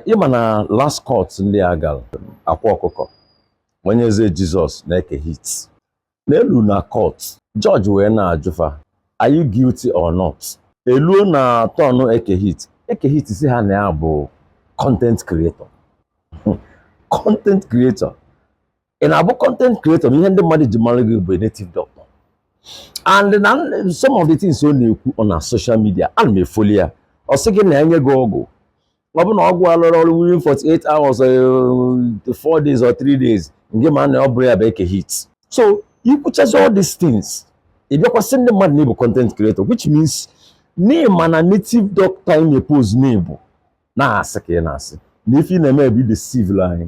ị ma na last court ndị a gara akwa ọkụkọ onye eze jizọs na eke hit na eluo na court jọji wee na-ajụ fa are you guilty or not eluo na turn eke hit eke hit sị ha na ya bụ content creator content creator ị na-abụ content creator na ihe ndị mmadụ ji mara gị bụ native doctor and na some of the things ọ na-ekwu ọ na social media ana m efollow ya ọ sị gị na enye gị ọgwụ ọ bụ na ọgwụ alụrọ ọrụ within 48 hours or 4 eh, days or 3 days ngị ma na ọ bụrọ ya bụ eke hit so i kwuchazi all these things ị bịakwa sị ndị mmadụ na ị bụ content creator which means na ị ma na native doctor ị na-epose na ị bụ na asị ka ị na-asị na ife ị na-eme bụ ịdeceive anyị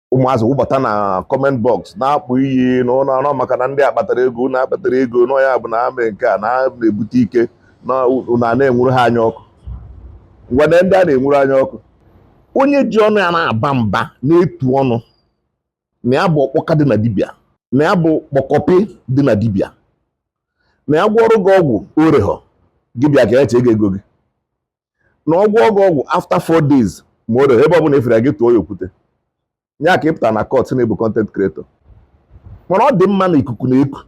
ụmụazị wụbata na comment box na-akpọ iyi na ụlọ ọrụ maka na ndị a kpatara ego unu akpatarọ ego na ya bụ na amị nke a na-ebute ike na a na-enwuru ha anya ọkụ ngwanụ ndị a na-enwuru anya ọkụ onye ji ọnụ ya na-aba mba na-etu ọnụ na ya bụ ọkpọka dị na dibịa na ya bụ kpọkọpị dị na dibịa na ya gwọọrọ gị ọgwụ oreghọ gị bịa ka ya chee gị ego gị na ọ gwọọ gị ọgwụ after four days ma o ebe ọ bụla a fụrụ gị tụọ ya okwute ya ka ị pụta na court na ị bụ content creator mana ọ dị mma na ikuku na-eku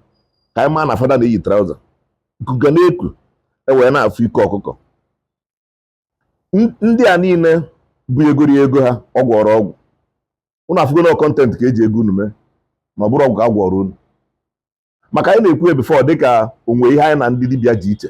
ka anyị maa na fada na-eyi trouser ikuku ga na-eku e wee na-afụ ike ọkụkọ ndị a niile bugoro ego ha ọ gwọrọ ọgwụ ụnụ afụgo na content ka e ji ego unu mee ma ọ bụrọ ọgwụ ka a gwọrọ unu maka anyị na-ekwu ihe before dịka o nwe ihe anyị na ndị dibịa ji iche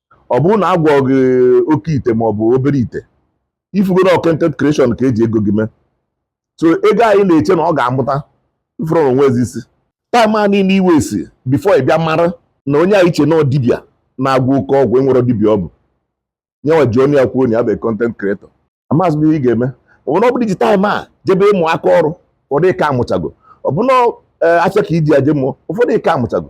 ọ bụrụ na a gwọọ gị oke ite ma ọ bụ obere ite ị fụgo na content creation ka e ji ego gị mee so ego anyị na-eche na ọ ga-amụta ife o nwezị isi time a niile ị waste before ị bịa mara na onye anyị che na dibịa na-agwọ oke ọgwụ enwerọ dibịa ọ bụ ya nwa ji ọnụ ya kwuo na ya bụ content creator amaghịzi m ihe ị ga-eme ọ bụrụ ọ bụrụ i ji time a jebe ịmụ aka ọrụ ụfọdụ ị ka amụchago ọ bụrụ na eh, afịa ka i ji ya je mụọ ụfọdụ ị ka amụchago